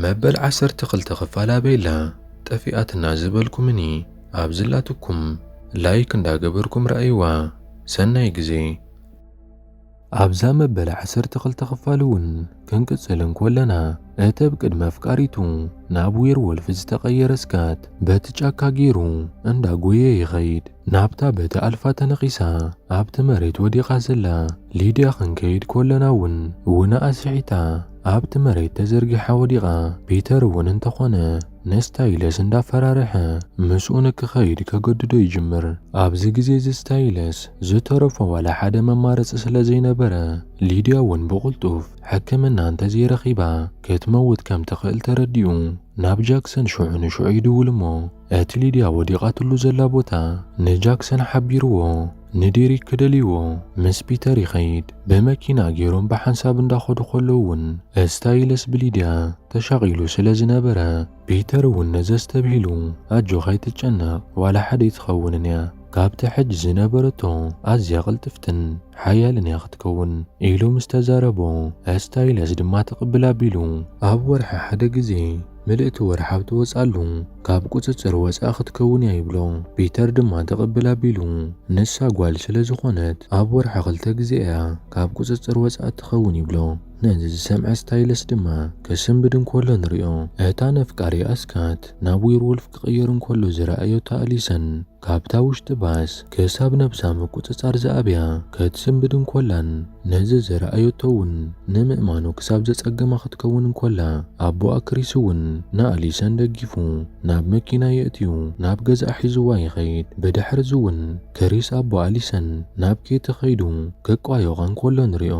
መበል ዓሰርተ ክልተ ክፋል ኣበይላ ጠፊኣትና ዝበልኩምኒ ኣብ ዝላትኩም ላይክ እንዳገበርኩም ረኣይዋ ሰናይ ግዜ። ኣብዛ መበል ዓሰርተ ክልተ ክፋል እውን ክንቅጽል እንኮለና እቲ ብ ቅድሚ ኣፍቃሪቱ ናብ ዌር ወልፍ ዝተቀየረ ስካት በቲ ጫካ ጌሩ እንዳ ጎየየ ይኸይድ ናብታ በቲ ኣልፋ ተነኺሳ ኣብቲ መሬት ወዲቃ ዘላ ሊድያ ክንከይድ ኮለና እውን ውነኣ ስሒታ ኣብቲ መሬት ተዘርጊሓ ወዲቓ፣ ፒተር እውን እንተኾነ ንስታይለስ እንዳፈራርሐ ምስኡ ንክኸይድ ከገድዶ ይጅምር። ኣብዚ ግዜ እዚ ስታይለስ ዝተረፎ ዋላ ሓደ መማረጺ ስለዘይነበረ፣ ሊድያ እውን ብቕልጡፍ ሕክምና እንተዘይረኺባ ክትመውት ከምትኽእል ተረዲኡ ናብ ጃክሰን ሽዑ ንሽዑ ይድውል እሞ እቲ ሊድያ ወዲቓትሉ ዘላ ቦታ ንጃክሰን ሓቢርዎ። ንዴሪክ ክደልይዎ ምስ ፒተር ይኸይድ። ብመኪና ጌሮም ብሓንሳብ እንዳኸዱ ከለዉ ውን እስታይለስ ብሊድያ ተሻቒሉ ስለ ዝነበረ ፒተር ውን ነዚ ኣስተብሂሉ ኣጆኻ ኣይትጨነቕ ዋላ ሓደ ኣይትኸውንን እያ ካብቲ ሕጂ ዝነበረቶ ኣዝያ ቅልጥፍትን ሓያልን እያ ክትከውን ኢሉ ምስ ተዛረቦ እስታይለስ ድማ ትቕብል ኣቢሉ ኣብ ወርሒ ሓደ ግዜ ምልእቲ ወርሓብ ትወጽኣሉ ካብ ቁጽጽር ወጻኢ ክትከውን እያ ይብሎ ፒተር ድማ ትቅብል ኣቢሉ ንሳ ጓል ስለ ዝኾነት ኣብ ወርሒ ክልተ ግዜ እያ ካብ ቁጽጽር ወጻኢ እትኸውን ይብሎ ነዚ ዝሰምዐ ስታይለስ ድማ ክስንብድ እንኮሎ ንሪኦ እታ ነፍቃሪኣ ስካት ናብ ዊርውልፍ ክቅየር እንኮሎ ዝረኣዮታ ኣሊሰን ካብታ ውሽጢ ባስ ክሳብ ነብሳ ምቁጽጻር ዝኣብያ ከትስንብድ እንኮላን ነዚ ዝረኣዮቶ'ውን ንምእማኑ ክሳብ ዘጸግማ ክትከውን እንኮላ ኣቦኣ ክሪስ'ውን ንኣሊሰን ደጊፉ ናብ መኪና የእትዩ ናብ ገዝኣ ሒዝዋ ይኸይድ። ብድሕር'ዚ'ውን ክሪስ ኣቦ ኣሊሰን ናብ ኬቲ ከይዱ ክቋየቋ እንኮሎ ንሪኦ።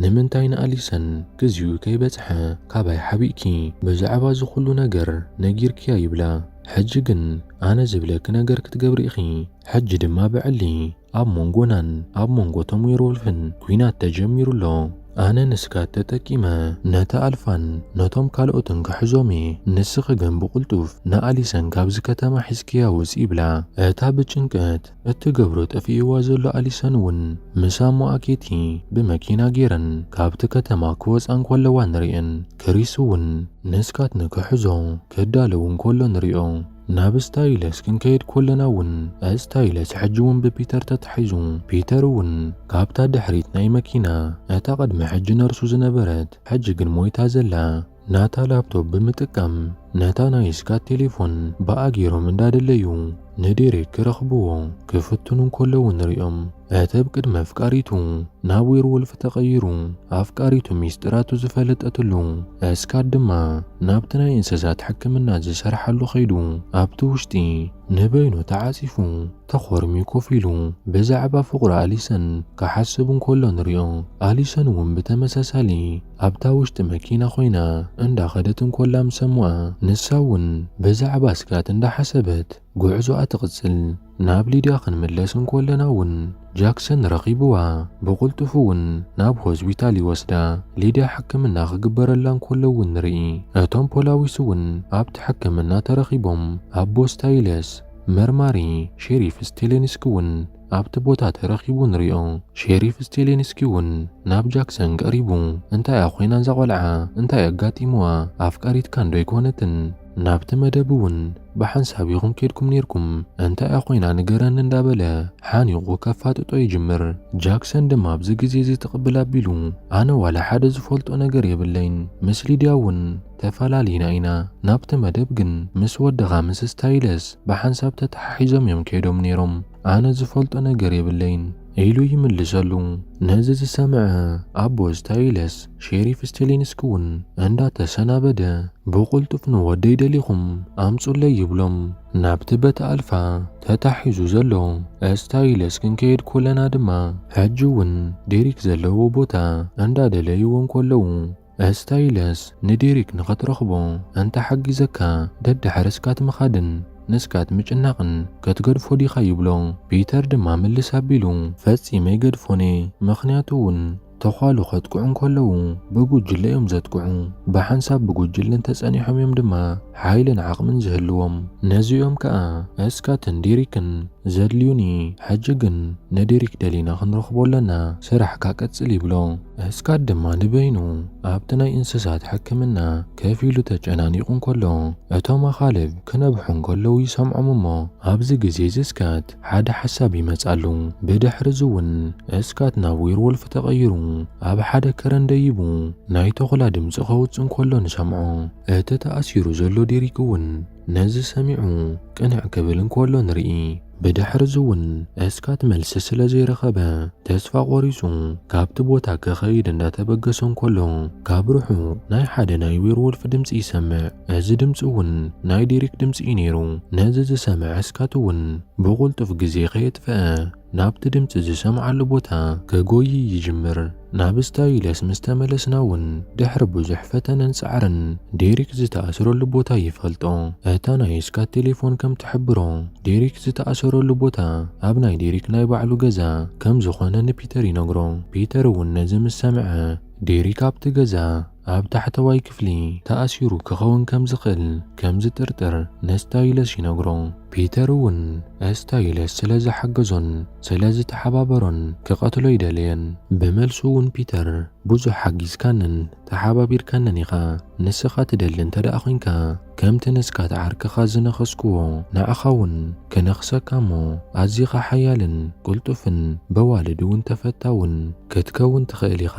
ንምንታይ ንኣሊሰን ግዚኡ ከይበጽሐ ካባይ ሓቢእኪ ብዛዕባ እዚ ኩሉ ነገር ነጊርክያ ይብላ ሕጂ ግን ኣነ ዝብለኪ ነገር ክትገብሪ ኢኺ ሕጂ ድማ ብዕሊ ኣብ ሞንጎናን ኣብ ሞንጎ እቶም ዌርወልፍን ኲናት ተጀሚሩ ኣሎ ኣነ ንስካት ተጠቂመ ነታ ኣልፋን ነቶም ካልኦትን ክሕዞም እየ ንስኺ ግን ብቕልጡፍ ንኣሊሰን ካብዚ ከተማ ሒዝክያ ውጺ ይብላ እታ ብጭንቀት እትገብሮ ጠፊእዋ ዘሎ ኣሊሰን እውን ምስ ኣሞኣ ኬቲ ብመኪና ጌረን ካብቲ ከተማ ክወጻ እንከለዋ ንርእየን። ክሪስ እውን ንስካትኒ ክሕዞ ክዳለው እንከሎ ንሪኦ። ናብ እስታይለስ ክንከይድ ኮለና እውን እስታይለስ ሕጂ እውን ብፒተር ተታሒዙ ፒተር እውን ካብታ ድሕሪት ናይ መኪና እታ ቅድሚ ሕጂ ነርሱ ዝነበረት ሕጂ ግን ሞይታ ዘላ ናታ ላፕቶፕ ብምጥቃም ነታ ናይ ስካት ቴሌፎን ብኣ ገይሮም እንዳደለዩ ንዴሬክ ክረኽብዎ ክፍትኑ እንከለዉ ንሪኦም። እቲ ብ ቅድመ ኣፍቃሪቱ ናብ ዌርዎልፍ ተቐይሩ ኣፍቃሪቱ ሚስጢራቱ ዝፈለጠትሉ ስካት ድማ ናብቲ ናይ እንስሳት ሕክምና ዝሰርሓሉ ከይዱ ኣብቲ ውሽጢ ንበይኑ ተዓጺፉ ተኾርምዩ ኮፍ ኢሉ ብዛዕባ ፍቕሩ ኣሊሰን ክሓስብ እንከሎ ንሪኦ። ኣሊሰን እውን ብተመሳሳሊ ኣብታ ውሽጢ መኪና ኮይና እንዳኸደት እንኮላ ምስ ሰምዋ ንሳ እውን ብዛዕባ ስጋት እንዳሓሰበት ጉዕዞኣ ትቕጽል። ናብ ሊድያ ክንምለስ እንኮለና እውን ጃክሰን ረኺብዋ ብቕልጡፍ እውን ናብ ሆስፒታል ይወስዳ። ሊድያ ሕክምና ክግበረላ እንኮሎ እውን ንርኢ። እቶም ፖላዊስ እውን ኣብቲ ሕክምና ተረኺቦም ኣቦ ስታይለስ መርማሪ ሼሪፍ ስቴሌንስኪ እውን ኣብቲ ቦታ ተረኺቡ ንሪኦ። ሼሪፍ ስቴሊንስኪ እውን ናብ ጃክሰን ቀሪቡ እንታይ እያ ኮይና እዛ ቆልዓ? እንታይ ኣጋጢምዋ? ኣፍቃሪትካ እንዶ ኣይኮነትን? ናብቲ መደብ እውን ብሓንሳብ ኢኹም ኬድኩም ኔርኩም፣ እንታይ እያ ኮይና ንገረኒ እንዳበለ ሓኒቑ ከፋጥጦ ይጅምር። ጃክሰን ድማ ኣብዚ ግዜ እዚ ትቕብል ኣቢሉ ኣነ ዋላ ሓደ ዝፈልጦ ነገር የብለይን ምስ ሊድያ እውን ተፈላሊና ኢና ናብቲ መደብ ግን ምስ ወድኻ ምስ ስታይለስ ብሓንሳብ ተተሓሒዞም እዮም ከይዶም ነይሮም ኣነ ዝፈልጦ ነገር የብለይን ኢሉ ይምልሰሉ ነዚ ዝሰምዐ ኣቦ ስታይለስ ሼሪፍ ስቴሊንስኪ እውን እንዳተሰናበደ ብቕልጡፍ ንወደይ ደሊኹም ኣምፁለይ ይብሎም ናብቲ በቲ ኣልፋ ተታሒዙ ዘሎ ስታይለስ ክንከይድ ኮለና ድማ ሕጂ እውን ዴሪክ ዘለዎ ቦታ እንዳደለይዎ እንከለዉ ኣስታይለስ ንዴሪክ ንኸትረኽቦ ኣንታ ሓጊዘካ ደድሕሪ ስካት ምኻድን ንስካት ምጭናቕን ከትገድፎ ዲኻ ይብሎ። ፒተር ድማ ምልስ ኣቢሉ ፈጺመ ኣይገድፎን'የ ምኽንያቱ ውን ተዃሉ ከጥቅዑ እንከለዉ ብጉጅለ እዮም ዘጥቅዑ ብሓንሳብ ብጉጅለ እንተጸኒሖም እዮም ድማ ሓይልን ዓቕምን ዝህልዎም ነዚ እዮም ከኣ እስካትን ዴሪክን ዘድልዩኒ ሕጂ ግን ንዴሪክ ደሊና ክንረኽቦ ኣለና ስራሕካ ቀጽል ይብሎ። እስካት ድማ ንበይኑ ኣብቲ ናይ እንስሳት ሕክምና ከፍ ኢሉ ተጨናኒቑ እንከሎ እቶም ኣኻልብ ክነብሑ እንከለዉ ይሰምዖም እሞ ኣብዚ ግዜ እዚ እስካት ሓደ ሓሳብ ይመጻሉ ብድሕሪ እዚ እውን እስካት ናብ ዌርዎልፍ ተቐይሩ ኣብ ሓደ ከረን ደይቡ ናይ ተኹላ ድምጺ ከውጽእ እንከሎ ንሰምዖ እቲ ተኣሲሩ ዘሎ ዴሪክ እውን ነዚ ሰሚዑ ቅንዕ ክብል እንከሎ ንርኢ። ብድሕርዚ እውን እስካት መልሲ ስለ ዘይረኸበ ተስፋ ቆሪፁ ካብቲ ቦታ ክኸይድ እንዳተበገሰ እንከሎ ካብ ርሑቕ ናይ ሓደ ናይ ዌርዎልፍ ድምፂ ይሰምዕ። እዚ ድምፂ እውን ናይ ዴሪክ ድምፂ እዩ ነይሩ። ነዚ ዝሰምዐ እስካት እውን ብቑልጡፍ ግዜ ከየጥፈኣ ናብቲ ድምጺ ዝሰምዓሉ ቦታ ከጎዪ ይጅምር። ናብ ስታዩለስ ምስ ተመለስና እውን ድሕሪ ብዙሕ ፈተነን ጻዕርን ዴሪክ ዝተኣስረሉ ቦታ ይፈልጦ። እታ ናይ ስካት ቴሌፎን ከም ትሕብሮ ዴሪክ ዝተኣሰረሉ ቦታ ኣብ ናይ ዴሪክ ናይ ባዕሉ ገዛ ከም ዝኾነ ንፒተር ይነግሮ። ፒተር እውን ነዚ ምስ ሰምዐ ዴሪክ ኣብቲ ገዛ ኣብ ታሕተዋይ ክፍሊ ተኣሲሩ ክኸውን ከም ዝኽእል ከም ዝጥርጥር ንስታይለስ ይነግሮ። ፒተር እውን ስታይለስ ስለ ዝሓገዞን ስለ ዝተሓባበሮን ክቐትሎ ኣይደለየን። ብመልሱ እውን ፒተር ብዙሕ ሓጊዝካንን ተሓባቢርካንን ኢኻ፣ ንስኻ ትደሊ እንተደኣ ዄንካ፣ ከምቲ ንስካት ዓርክኻ ዝነኸስክዎ ንዓኻ ውን ክነኽሰካ እሞ ኣዚኻ ሓያልን ቅልጡፍን በዋልድ ውን ተፈታውን ክትከውን ትኽእል ኢኻ።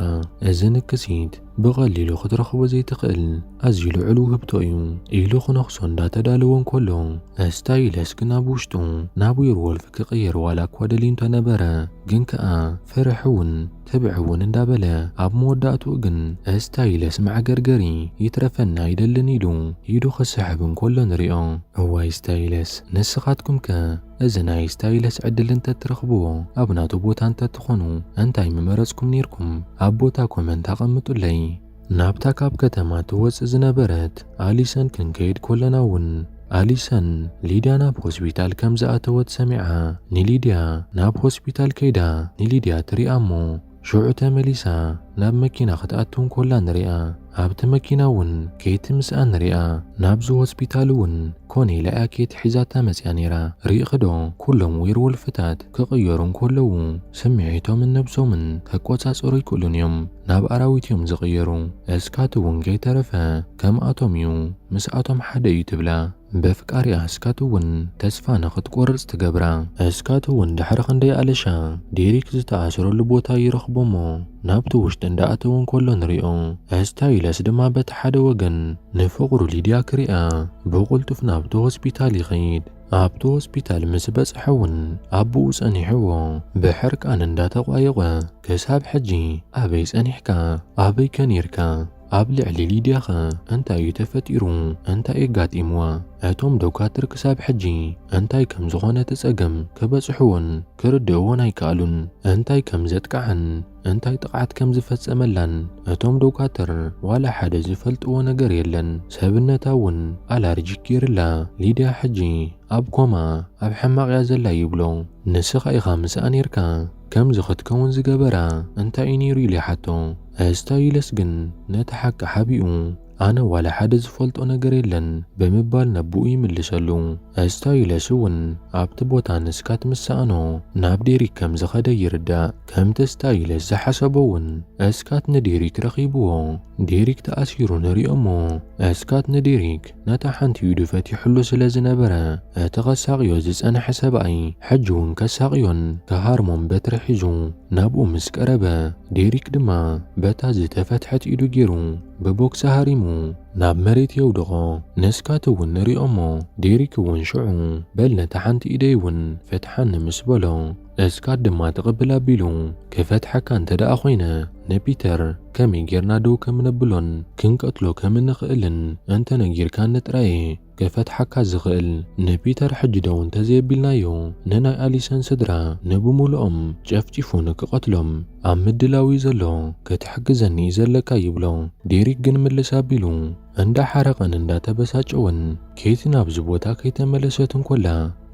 እዚ ንክሲት ብቀሊሉ ክትረኽቦ ዘይትኽእል ኣዝዩ ልዑል ውህብቶ እዩ። ኢሉ ክነኽሶ እንዳተዳለወ እንከሎ እስታይለስ ግን ኣብ ውሽጡ ናብ ዌርዎልፍ ክቅየር ዋላ እኳ ደልዩ እንተነበረ ግን ከኣ ፍርሒ ውን ትብዕ እውን እንዳበለ ኣብ መወዳእትኡ ግን እስታይለስ መዕገርገሪ ይትረፈና ኣይደልን ኢሉ ኢዱ ክስሕብ እንከሎ ንሪኦ። እዋይ እስታይለስ ንስኻትኩም ከ እዚ ናይ እስታይለስ ዕድል እንተትረኽብዎ ኣብ ናቱ ቦታ እንተትኾኑ እንታይ ምመረፅኩም ነይርኩም ኣብ ቦታ ኮመንት ኣቐምጡለይ። ናብታ ካብ ከተማ ትወጽእ ዝነበረት ኣሊሰን ክንከይድ ኮለና እውን ኣሊሰን ሊድያ ናብ ሆስፒታል ከም ዝኣተወት ሰሚዓ ንሊድያ ናብ ሆስፒታል ከይዳ ንሊድያ ትሪኣ እሞ ሽዑ ተመሊሳ ናብ መኪና ክትኣቱ እንኮላ ንሪኣ ኣብቲ መኪና እውን ኬቲ ምስኣ ንሪኣ ናብዚ ሆስፒታል እውን ኮነ ኢላ እያ ኬቲ ሒዛታ መጽያ ነይራ ርኢኺ ዶ ኩሎም ዌርወልፍታት ክቕየሩ እንከለዉ ስምዒቶምን ነብሶምን ክቆጻጸሩ ኣይክእሉን እዮም፣ ናብ ኣራዊት እዮም ዝቕየሩ። እስካት እውን ከይተረፈ ከምኣቶም እዩ፣ ምስኣቶም ሓደ እዩ ትብላ። በፍቃሪኣ እስካት እውን ተስፋ ንኽትቆርጽ ትገብራ። እስካት እውን ድሕሪ ክንደይ ኣለሻ ዴሪክ ዝተኣስረሉ ቦታ ይረኽቦ እሞ ናብቲ ውሽጢ እንዳኣተወ እንከሎ ንሪኦ። እስታይለስ ድማ በቲ ሓደ ወገን ንፍቕሩ ሊድያ ክሪኣ ብቕልጡፍ ናብቲ ሆስፒታል ይኸይድ። ኣብቲ ሆስፒታል ምስ በጽሐ እውን ኣቦኡ ጸኒሕዎ ብሕርቃን እንዳተቋየቖ ክሳብ ሕጂ ኣበይ ጸኒሕካ ኣበይ ከ ኔርካ ኣብ ልዕሊ ሊድያ ከ እንታይ እዩ ተፈጢሩ እንታይ የጋጢምዋ እቶም ዶካትር ክሳብ ሕጂ እንታይ ከም ዝኾነ እቲ ጸገም ክበጽሕዎን ክርድእዎን ኣይከኣሉን እንታይ ከም ዘጥቅዓን እንታይ ጥቕዓት ከም ዝፈጸመላን እቶም ዶጋትር ዋላ ሓደ ዝፈልጥዎ ነገር የለን። ሰብነታ እውን ኣላርጂክ ገይርላ። ሊድያ ሕጂ ኣብ ኮማ ኣብ ሕማቕ እያ ዘላ ይብሎ። ንስኻ ኢኻ ምስኣ ኔርካ ከምዚ ክትከውን ዝገበራ እንታይ እዩ ነይሩ ኢለ ይሓቶ። እስታይለስ ግን ነቲ ሓቂ ሓቢኡ። ኣነ ዋላ ሓደ ዝፈልጦ ነገር የለን ብምባል ነቦኡ ይምልሰሉ። እስታዩለስ እውን ኣብቲ ቦታ ንስካት ምስ ሰኣኖ ናብ ዴሪክ ከም ዝኸደ ይርዳእ። ከምቲ እስታዩለስ ዝሓሰቦ እውን እስካት ንዴሪክ ረኺብዎ። ዴሪክ ተኣሲሩ ንሪኦ እሞ እስካት ንዴሪክ ነታ ሓንቲ ኢዱ ፈቲሑሉ ስለ ዝነበረ እቲ ከሳቕዮ ዝጸንሐ ሰብኣይ ሕጂ እውን ከሳቕዮን ክሃርሞን በትሪ ሒዙ ናብኡ ምስ ቀረበ ዴሪክ ድማ በታ ዝተፈትሐት ኢዱ ጌሩ ብቦክሲ ሃሪሙ ናብ መሬት የውድቖ። ነስካት እውን ንርኦ'ሞ ዴሪክ እውን ሽዑ በል ነታ ሓንቲ ኢደይ እውን ፍትሓኒ ምስ በሎ፣ እስካት ድማ ትቕብል ኣቢሉ ክፈትሓካ እንተደኣ ኮይነ ንፒተር ከመይ ጌርና ደው ከም ነብሎን ክንቀትሎ ከም እንኽእልን እንተነጊርካኒ ጥራይ'የ ከፈትሓካ ዝኽእል ንፒተር ሕጂ ደው እንተዘየቢልናዮ ንናይ ኣሊሰን ስድራ ንብሙሉኦም ጨፍጪፉ ንክቀትሎም ኣብ ምድላው እዩ ዘሎ ክትሕግዘኒ እዩ ዘለካ ይብሎ ዴሪክ ግን ምልስ ኣቢሉ እንዳሓረቀን እንዳተበሳጨወን ኬቲ ናብዚ ቦታ ከይተመለሰት እንኮላ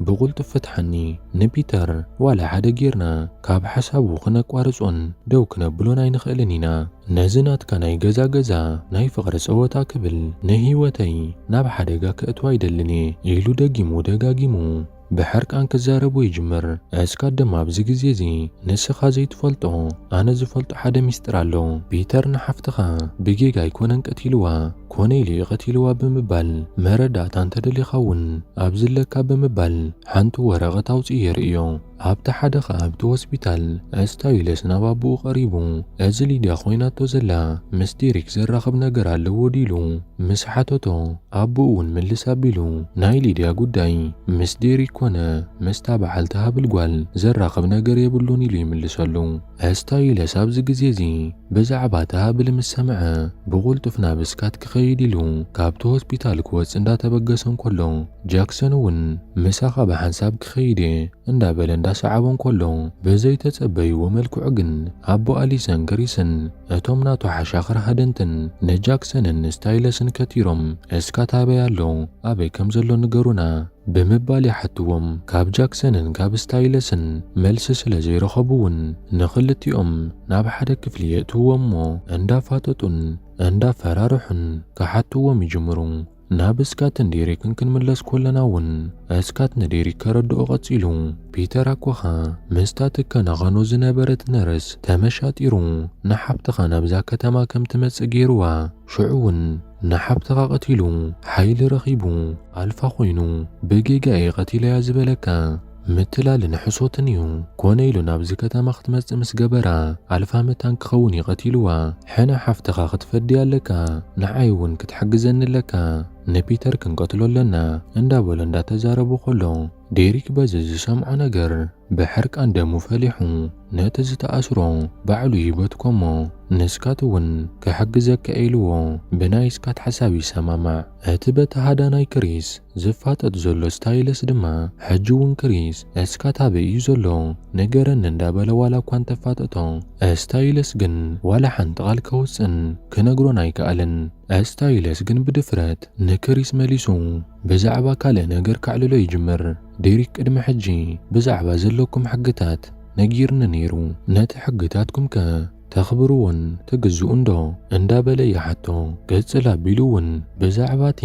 ብቕልጡፍ ፍትሓኒ ንፒተር ዋላ ሓደ ጌርና ካብ ሓሳቡ ክነቋርጾን ደው ክነብሎን ኣይንኽእልን ኢና ነዚ ናትካ ናይ ገዛ ገዛ ናይ ፍቕሪ ጸወታ ክብል ንህይወተይ ናብ ሓደጋ ከእቱ ኣይደልን እየ ኢሉ ደጊሙ ደጋጊሙ ብሕርቃን ክዛረቦ ይጅምር እስካ ድማ ኣብዚ ግዜ እዚ ንስኻ ዘይትፈልጦ ኣነ ዝፈልጦ ሓደ ሚስጥር ኣሎ ፒተር ንሓፍትኻ ብጌጋ ኣይኮነን ቀቲልዋ ኮነ ኢሊ ቐቲልዋ ብምባል መረዳእታ እንተደሊኻ እውን ኣብዚ ኣለካ ብምባል ሓንቲ ወረቐት ኣውጺኡ የርእዮ። ኣብቲ ሓደ ኸኣ ኣብቲ ሆስፒታል እስታዩለስ ናብ ኣቦኡ ቐሪቡ እዚ ሊድያ ኾይናቶ ዘላ ምስ ዴሪክ ዘራኽብ ነገር ኣለዎ ድዩ ኢሉ ምስ ሓተቶ ኣቦኡ እውን ምልስ ኣቢሉ ናይ ሊድያ ጉዳይ ምስ ዴሪክ ኮነ ምስታ በዓልቲ ሃብል ጓል ዘራኽብ ነገር የብሉን ኢሉ ይምልሰሉ። ኣስታዩለስ ኣብዚ ግዜ እዚ ብዛዕባ እቲ ሃብሊ ምስ ሰምዐ ብቕልጡፍ ናብ ስካት ክኸይድ ኢሉ ካብቲ ሆስፒታል ክወጽእ እንዳተበገሰ እንከሎ ጃክሰን እውን ምሳኻ ብሓንሳብ ክኸይድ እየ እንዳበለ እንዳሰዓቦ እንከሎ ብዘይተጸበይዎ መልክዑ ግን ኣቦ ኣሊሰን ግሪስን እቶም ናቱ ሓሻኽር ሃደንትን ንጃክሰንን ስታይለስን ከቲሮም ስካት ኣበይ ኣሎ ኣበይ ከም ዘሎ ንገሩና ብምባል ይሓትዎም። ካብ ጃክሰንን ካብ ስታይለስን መልሲ ስለ ዘይረኸቡ'ውን ንኽልቲኦም ናብ ሓደ ክፍሊ የእትውዎም'ሞ እንዳፋጠጡን እንዳፈራርሑን ክሓትዎም ይጅምሩ። ናብ ስካትን ዴሪክን ክንምለስ ኮለና'ውን ስካት ንዴሪክ ከረድኦ ቀጺሉ፣ ፒተር ኣኮኻ ምስታ ትከናኸኖ ዝነበረት ነርስ ተመሻጢሩ ንሓብትኻ ናብዛ ከተማ ከም ትመጽእ ገይሩዋ። ሽዑ እውን ንሓብትኻ ቀቲሉ ሓይሊ ረኺቡ ኣልፋ ኮይኑ ብጌጋ እየ ቀቲለያ ዝበለካ ምትላልን ሕሶትን እዩ ኮነ ኢሉ ናብዚ ከተማ ክትመጽእ ምስ ገበራ ኣልፋ መታን ክኸውን እዩ ቀቲልዋ ሕነ ሓፍትኻ ክትፈዲ ኣለካ ንዓይ እውን ክትሕግዘኒ ኣለካ ንፒተር ክንቀትሎ ኣለና እንዳበሎ እንዳተዛረቡ ከሎ ዴሪክ በዚ ዝሰምዖ ነገር ብሕርቃን ደሙ ፈሊሑ ነቲ ዝተኣስሮ ባዕሉ ይበትኮ'ሞ ንስካት'ውን ክሕግዘካ ኢልዎ ብናይ ስካት ሓሳብ ይሰማማዕ። እቲ በቲ ሃዳናይ ክሪስ ዝፋጠጥ ዘሎ ስታይለስ ድማ ሕጂ'ውን ክሪስ እስካት ኣበይ እዩ ዘሎ ንገረኒ እንዳበለ ዋላ'ኳ እንተፋጠጦ እስታይለስ ግን ዋላ ሓንቲ ቃል ከውጽእን ክነግሮን ኣይከኣለን። እስታይለስ ግን ብድፍረት ንክሪስ መሊሱ ብዛዕባ ካልእ ነገር ከዕልሎ ይጅምር። ዴሪክ ቅድሚ ሕጂ ብዛዕባ ዘለኩም ሕግታት ነጊርኒ ነይሩ ነቲ ሕግታትኩም ከ ተኽብርዎን ትግዝኡን ዶ እንዳ በለ ይሓቶ ቅጽል ኣቢሉ ውን ብዛዕባ እቲ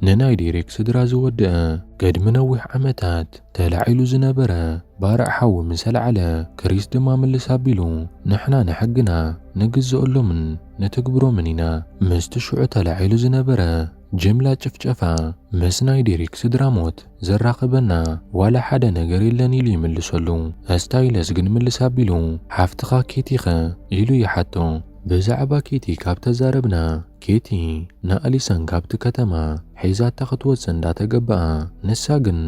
ንናይ ዴሪክ ስድራ ዝወደኣ ቅድሚ ነዊሕ ዓመታት ተላዒሉ ዝነበረ ባርዕ ሓዊ ምስ ኣልዓለ ክሪስ ድማ ምልስ ኣቢሉ ንሕና ንሕግና ንግዘኦሎምን ንትግብሮምን ኢና ምስቲ ሽዑ ተላዒሉ ዝነበረ ጅምላ ጭፍጨፋ ምስ ናይ ዴሪክ ስድራ ሞት ዘራኽበና ዋላ ሓደ ነገር የለን ኢሉ ይምልሰሉ። እስታይለስ ግን ምልስ ኣቢሉ ሓፍትኻ ኬቲ ከ? ኢሉ ይሓቶ። ብዛዕባ ኬቲ ካብ ተዛረብና ኬቲ ንኣሊሰን ካብቲ ከተማ ሒዛታ ክትወጽእ እንዳ ተገበኣ ንሳ ግን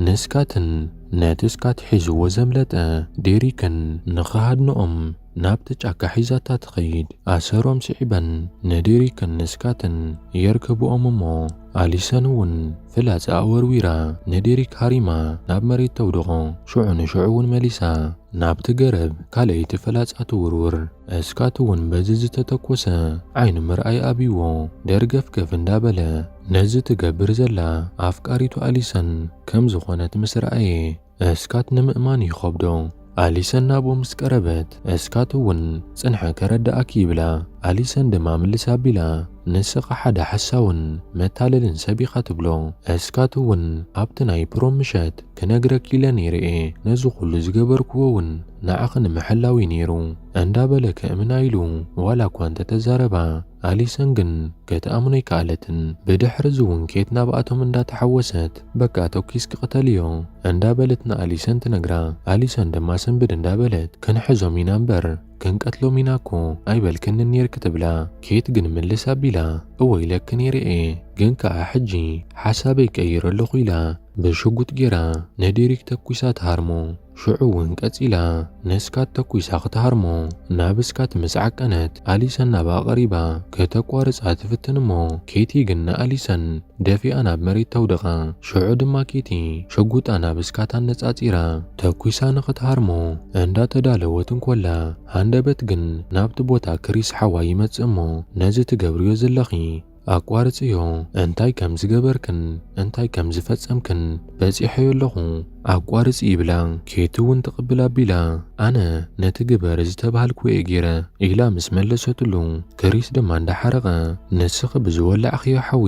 ንስካትን ነቲ ስካት ሒዝዎ ዘምለጠ ዴሪክን ንኽሃድንኦም ናብቲ ጫካ ሒዛታ ትኸይድ። ኣሰሮም ስዒበን ንዴሪክን ንስካትን የርከብኦም እሞ ኣሊሰን እውን ፍላጻኣ ወርዊራ ንዴሪክ ሃሪማ ናብ መሬት ተውድቖ። ሽዑ ንሽዑ እውን መሊሳ ናብቲ ገረብ ካልኣይቲ ፍላጻ ትውርውር። ስካት እውን በዚ ዝተተኮሰ ዓይኑ ምርኣይ ኣብዩዎ ደርገፍገፍ እንዳበለ ነዚ ትገብር ዘላ ኣፍቃሪቱ ኣሊሰን ከምዝኾነት ምስ ረኣየ፣ እስካት ንምእማን ይኸብዶ። ኣሊሰን ናብኡ ምስ ቀረበት እስካት እውን ጽንሐ ከረድኣኪ ይብላ። ኣሊሰን ድማ ምልስ ኣቢላ ንስኻ ሓደ ሓሳውን መታለልን ሰብ ኢኻ ትብሎ። እስካት እውን ኣብቲ ናይ ፕሮም ምሸት ክነግረኪ ኢለ ነይረ እየ ነዚ ኩሉ ዝገበርክዎ እውን ንዓኺ ንምሕላው እዩ ነይሩ እንዳበለ ከእምና ኢሉ ዋላ እኳ እንተተዛረባ፣ ኣሊሰን ግን ከትኣምኖ ኣይከኣለትን ብድሕርዚ ውን ኬት ናብኣቶም እንዳ ተሓወሰት በቃ ቶኪስ ክቅተልዮ እንዳ በለት ንኣሊሰን ትነግራ ኣሊሰን ድማ ስንብድ እንዳ በለት ክንሕዞም ኢና እምበር ክንቀትሎም ኢና እኮ ኣይበልክንን ኔርኪ ትብላ ኬት ግን ምልስ ኣቢላ እወ ኢለኪ ኔረ እየ ግን ከኣ ሕጂ ሓሳበይ ቀይረ ኣለኩ ኢላ ብሽጉጥ ጌራ ንዴሪክ ተኩሳ ትሃርሞ። ሽዑ እውን ቀጺላ ንስካት ተኩሳ ክትሃርሞ ናብ ስካት ምስ ዓቀነት ኣሊሰን ናብኣ ቀሪባ ከተቋርጻ ትፍትን እሞ ኬቲ ግን ንኣሊሰን ደፊኣ ናብ መሬት ተውድቃ ሽዑ ድማ ኬቲ ሽጉጣ ናብ ስካት ኣነጻጺራ ተኩሳ ንክትሃርሞ እንዳ ተዳለወት እንኮላ ሃንደበት ግን ናብቲ ቦታ ክሪስ ሓዋይ ይመጽእ እሞ ነዚ ትገብርዮ ዘለኺ ኣቋርጽዮ እንታይ ከም ዝገበርክን እንታይ ከም ዝፈጸምክን በጺሖዮ ኣለኹ ኣቋርጺ ይብላ ኬቲ ውን ትቕብል ኣቢላ ኣነ ነቲ ግበር ዝተባሃልክዎ'የ ጌረ ኢላ ምስ መለሰትሉ ክሪስ ድማ እንዳሓረቐ ንስኺ ብዝወላዕኽዮ ሓዊ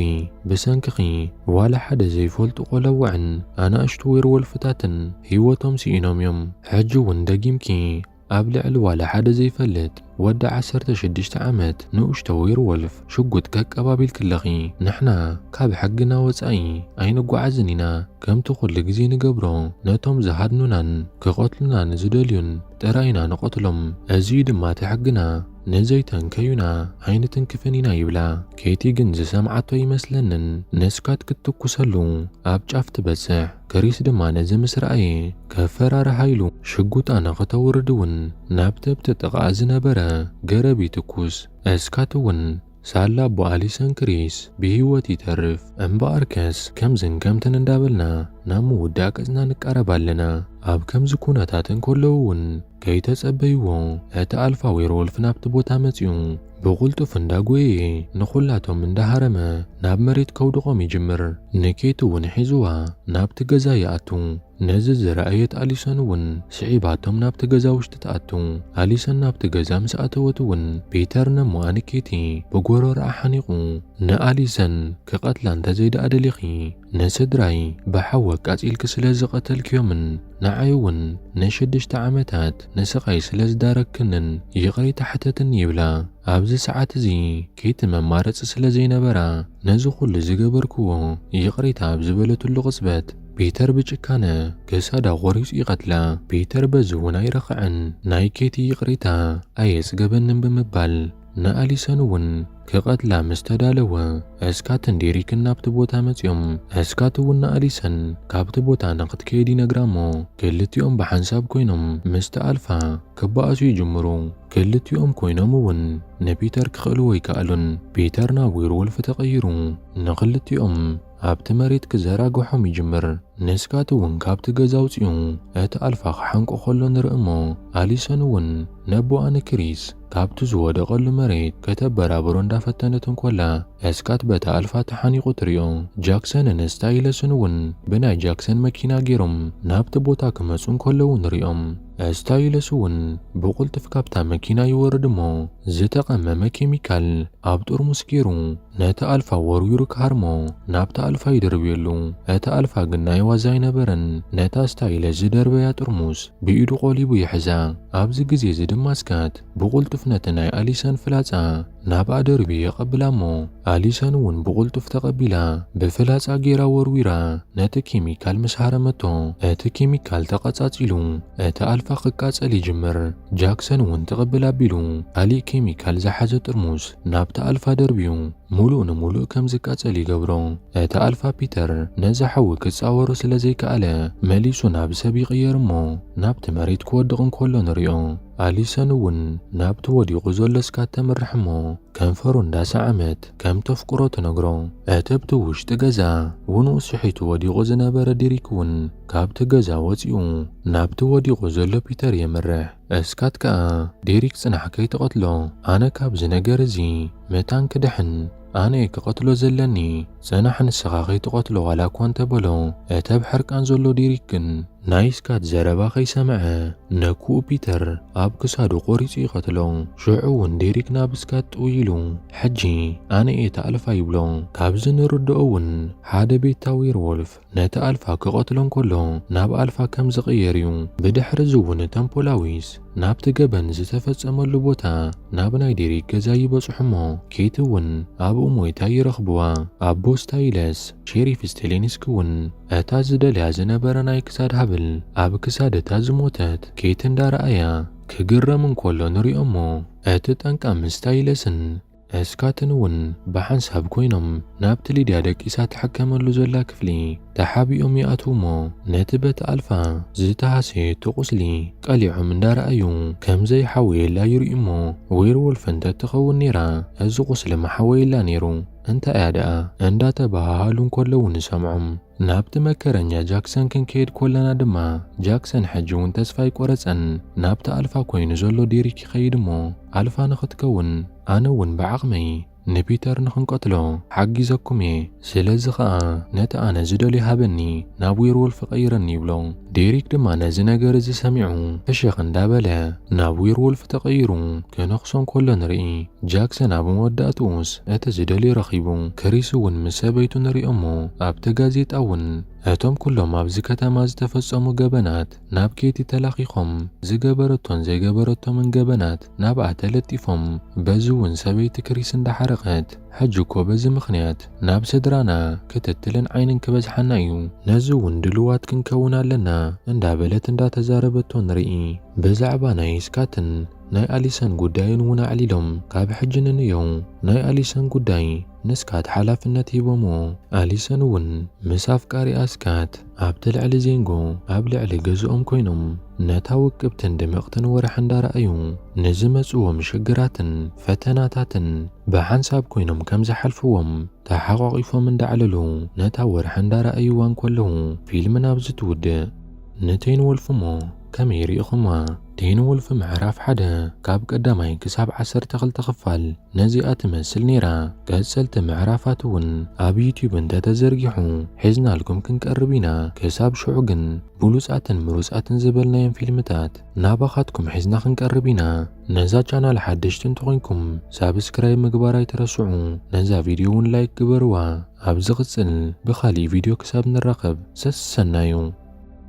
ብሰንክኺ ዋላ ሓደ ዘይፈልጡ ቆለውዕን ኣናእሽቱ ዌርወልፍታትን ሂወቶም ሲኢኖም'ዮም ሕጂ ውን ደጊምኪ ኣብ ልዕሊ ዋላ ሓደ ዘይፈልጥ ወዲ ዓሰርተ ሽዱሽተ ዓመት ንኡሽቶ ዌርዎልፍ ሽጉጥ ከቀባቢልክለኺ፣ ንሕና ካብ ሕግና ወጻኢ ኣይንጓዓዝን ኢና፣ ከምቲ ኩሉ ግዜ ንገብሮ ነቶም ዝሃድኑናን ክቐትሉናን ዝደልዩን ጥራይ ኢና ንቐትሎም፣ እዚ እዩ ድማ እቲ ሕግና። ንዘይተንከዩና ኣይንትንክፍን ኢና ይብላ ኬቲ ግን ዝሰምዓቶ ኣይመስለንን ንስካት ክትትኩሰሉ ኣብ ጫፍ ትበጽሕ ክሪስ ድማ ነዚ ምስ ረኣየ ከፈራርሓ ኢሉ ሽጉጣ ንክተውርድ ውን ናብቲ ኣብቲ ጥቃኣ ዝነበረ ገረብ ይትኩስ እስካትውን ሳላ ኣቦ ኣሊሰን ክሪስ ብሂወት ይተርፍ እምበኣርከስ ከምዝን ከምትን እንዳበልና ናብ ምውዳእ ቅጽና ንቃረብ ኣለና። ኣብ ከምዚ ኩነታት እንከለዉ ውን ከይተጸበይዎ እቲ ኣልፋ ዌርዎልፍ ናብቲ ቦታ መጺኡ ብቁልጡፍ እንዳጎየየ ንኩላቶም እንዳሃረመ ናብ መሬት ከውድቆም ይጅምር። ንኬቲ ውን ሒዝዋ ናብቲ ገዛ ይኣቱ። ነዚ ዝረኣየት ኣሊሰን እውን ስዒባቶም ናብቲ ገዛ ውሽጢ ትኣቱ። ኣሊሰን ናብቲ ገዛ ምስ ኣተወት እውን ፒተር ነሞ ኣንኬቲ ብጎሮሮኣ ሓኒቑ ንኣሊሰን ክቐትላ እንተዘይደኣ ደሊኺ ንስድራይ ብሓዊ ኣቃጺልኪ ስለ ዝቐተልክዮምን ንዓይ እውን ንሽዱሽተ ዓመታት ንስቓይ ስለ ዝዳረግክንን ይቕሬታ ሕተትኒ ይብላ። ኣብዚ ሰዓት እዚ ኬቲ መማረጺ ስለ ዘይነበራ ነዚ ኩሉ ዝገበርክዎ ይቕሬታ ኣብ ዝበለትሉ ቅጽበት፣ ፒተር ብጭካነ ክሳዳ ቆሪጹ ይቀትላ። ፒተር በዚ እውን ኣይረኸዐን ናይ ኬቲ ይቅሬታ ኣየጽገበንን ብምባል ንኣሊሰን እውን ክቀትላ ምስ ተዳለወ እስካትን ዴሪክን ናብቲ ቦታ መጽዮም እስካት እውን ንኣሊሰን ካብቲ ቦታ ንክትከይድ ይነግራ እሞ ክልቲኦም ብሓንሳብ ኮይኖም ምስቲ ኣልፋ ክበኣሱ ይጅምሩ። ክልቲኦም ኮይኖም እውን ንፒተር ክክእልዎ ኣይከኣሉን። ፒተር ናብ ዌርወልፍ ተቀይሩ ንክልቲኦም ኣብቲ መሬት ክዘራግሖም ይጅምር። ንስካት እውን ካብቲ ገዛ ኣውፅኡ እቲ ኣልፋ ክሓንቆ ከሎ ንርኢ እሞ ኣሊሰን እውን ነቦኣ ንክሪስ ካብቲ ዝወደቀሉ መሬት ከተበራብሮ እንዳፈተነት እንኮላ ስካት በታ ኣልፋ ተሓኒቁ ትሪኦ። ጃክሰንን ስታይለስን እውን ብናይ ጃክሰን መኪና ገይሮም ናብቲ ቦታ ክመፁ እንከለዉ ንሪኦም። እስታይለስ እውን ብቕልጡፍ ካብታ መኪና ይወርድ እሞ ዝተቐመመ ኬሚካል ኣብ ጥርሙስ ገይሩ ነቲ ኣልፋ ወርዊሩ ክሃርሞ ናብታ ኣልፋ ይድርብየሉ። እቲ ኣልፋ ግን ናይ ዋዛ ኣይነበረን፣ ነታ እስታይለስ ዝደርበያ ጥርሙስ ብኢዱ ቆሊቡ ይሕዛ። ኣብዚ ግዜ እዚ ድማ ስካት ብቕልጡፍ ነቲ ናይ ኣሊሰን ፍላጻ ናብኣ ደርብየ የቐብላ'ሞ ኣሊሰን እውን ብቕልጡፍ ተቐቢላ ብፍላጻ ገይራ ወርዊራ ነቲ ኬሚካል ምስ ሃረመቶ እቲ ኬሚካል ተቐጻጺሉ እቲ ኣልፋ ክቃጸል ይጅምር። ጃክሰን እውን ትቕብል ኣቢሉ ካሊእ ኬሚካል ዝሓዘ ጥርሙስ ናብቲ ኣልፋ ደርብዩ ሙሉእ ንሙሉእ ከም ዝቃጸል ይገብሮ። እቲ ኣልፋ ፒተር ነዚ ሓዊ ክጻወሮ ስለ ዘይከኣለ መሊሱ ናብ ሰብ ይቕየር'ሞ ናብቲ መሬት ክወድቕ እንከሎ ንሪኦ። ኣሊሰን እውን ናብቲ ወዲቑ ዘሎ ስካት ተምርሕ እሞ ከንፈሩ እንዳሰዓመት ከም ተፍቅሮ ትነግሮ። እቲ ኣብቲ ውሽጢ ገዛ ውንኡ ስሒቱ ወዲቑ ዝነበረ ዲሪክ እውን ካብቲ ገዛ ወጺኡ ናብቲ ወዲቑ ዘሎ ፒተር የምርሕ። ስካት ከኣ ዲሪክ ጽናሕ ከይትቐትሎ ኣነ ካብዚ ነገር እዚ መታን ክድሕን ኣነ እየ ክቐትሎ ዘለኒ። ጽናሕ ንስኻ ከይትቐትሎ ዋላ እኳ እንተ በሎ፣ እቲ ኣብ ሕርቃን ዘሎ ዴሪክ ግን ናይ ስካት ዘረባ ከይሰምዐ ነኩኡ ፒተር ኣብ ክሳዱ ቆሪጹ ይቐትሎ። ሽዑ እውን ዴሪክ ናብ ስካት ጥውይ ኢሉ ሕጂ ኣነ እየ እታ ኣልፋ ይብሎ። ካብዚ ንርድኦ እውን ሓደ ቤታ ዌርዎልፍ ነቲ ኣልፋ ክቐትሎ እንከሎ ናብ ኣልፋ ከም ዝቕየር እዩ። ብድሕሪ እዚ እውን እቶም ፖላዊስ ናብቲ ገበን ዝተፈጸመሉ ቦታ ናብ ናይ ዴሪክ ገዛ ይበጽሑ እሞ ኬቲ እውን ኣብኡ ሞይታ ይረኽብዋ። ኣብ ቦስታይለስ ሼሪፍ ስቴሌንስኪ እውን እታ ዝደልያ ዝነበረ ናይ ክሳድ ሃብል ኣብ ክሳድ እታ ዝሞተት ኬቲ እንዳረኣያ ክግረም እንከሎ ንሪኦ እሞ እቲ ጠንቃ ምስ ስታይለስን እስካትን እውን ብሓንሳብ ኮይኖም ናብቲ ሊድያ ደቂሳ ትሕከመሉ ዘላ ክፍሊ ተሓቢኦም ይኣትዉ እሞ ነቲ በቲ ኣልፋ ዝተሃሰየቶ ቁስሊ ቀሊዖም እንዳረኣዩ ከም ዘይሓወየላ ይርእዩ እሞ ዌርዎልፍ እንተትኸውን ነይራ እዚ ቁስሊ ምሓወየላ ነይሩ እንታይ እያ ደኣ እንዳተበሃሃሉ እንከለዉ ንሰምዖም። ናብቲ መከረኛ ጃክሰን ክንከይድ ኮለና ድማ ጃክሰን ሕጂ እውን ተስፋ ኣይቆረጸን ናብቲ ኣልፋ ኮይኑ ዘሎ ዴሪክ ይኸይድ እሞ ኣልፋ ንኽትከውን ኣነ እውን ብዓቕመይ ንፒተር ንኽንቀትሎ ሓጊዘኩም እየ ስለዚ ኸኣ ነቲ ኣነ ዝደልዮ ሃበኒ ናብ ዌርዎልፍ ቐይረኒ ይብሎ ዴሪክ ድማ ነዚ ነገር እዚ ሰሚዑ ፍሽኽ እንዳበለ ናብ ዌርዎልፍ ተቐይሩ ክነኽሶ እንከሎ ንርኢ ጃክሰን ኣብ መወዳእትኡስ እቲ ዝደልዮ ረኺቡ። ክሪስ እውን ምስ ሰበይቱ ንሪኦ'ሞ ኣብቲ ጋዜጣ እውን እቶም ኩሎም ኣብዚ ከተማ ዝተፈጸሙ ገበናት ናብ ኬቲ ተላኺኾም ዝገበረቶን ዘይገበረቶምን ገበናት ናብኣ ተለጢፎም በዚ እውን ሰበይቲ ክሪስ እንዳሓረቐት ሕጂ እኮ በዚ ምኽንያት ናብ ስድራና ክትትልን ዓይንን ክበዝሓና እዩ ነዚ እውን ድሉዋት ክንከውን ኣለና እንዳበለት እንዳተዛረበቶ ንርኢ። ብዛዕባ ናይ ስካትን ናይ ኣሊሰን ጉዳይን ውን ኣዕሊሎም ካብ ሕጂ ንንዮው ናይ ኣሊሰን ጉዳይ ንስካት ሓላፍነት ሂቦሞ ኣሊሰን ውን ምስ ኣፍቃሪኣ ስካት ኣብቲ ልዕሊ ዜንጎ ኣብ ልዕሊ ገዝኦም ኮይኖም ነታ ውቅብትን ድምቅትን ወራሕ እንዳረኣዩ ንዝመጽዎም ሽግራትን ፈተናታትን ብሓንሳብ ኮይኖም ከም ዝሓልፍዎም ተሓቋቂፎም እንዳዕለሉ ነታ ወርሒ እንዳረኣይዋ እንኮለዉ ፊልም ናብዚ ትውድእ ንቴን ወልፍሞ ከመይ ሪኢኩማ? ቴን ወልፍ ምዕራፍ ሓደ ካብ ቀዳማይ ክሳብ ዓሰርተ ክልተ ክፋል ነዚኣ ትመስል ነይራ። ቀጸልቲ ምዕራፋት እውን ኣብ ዩትዩብ እንተ ተዘርጊሑ ሒዝናልኩም ክንቀርብ ኢና። ክሳብ ሽዑ ግን ብሉጻትን ምሩጻትን ዝበልናዮም ፊልምታት ናባኻትኩም ሒዝና ክንቀርብ ኢና። ነዛ ቻናል ሓደሽቲ እንተኾይንኩም ሳብስክራይብ ምግባር ኣይትረስዑ፣ ነዛ ቪድዮ እውን ላይክ ግበርዋ። ኣብ ዝቕጽል ብኻሊእ ቪድዮ ክሳብ ንራኸብ ሰሰናዩ።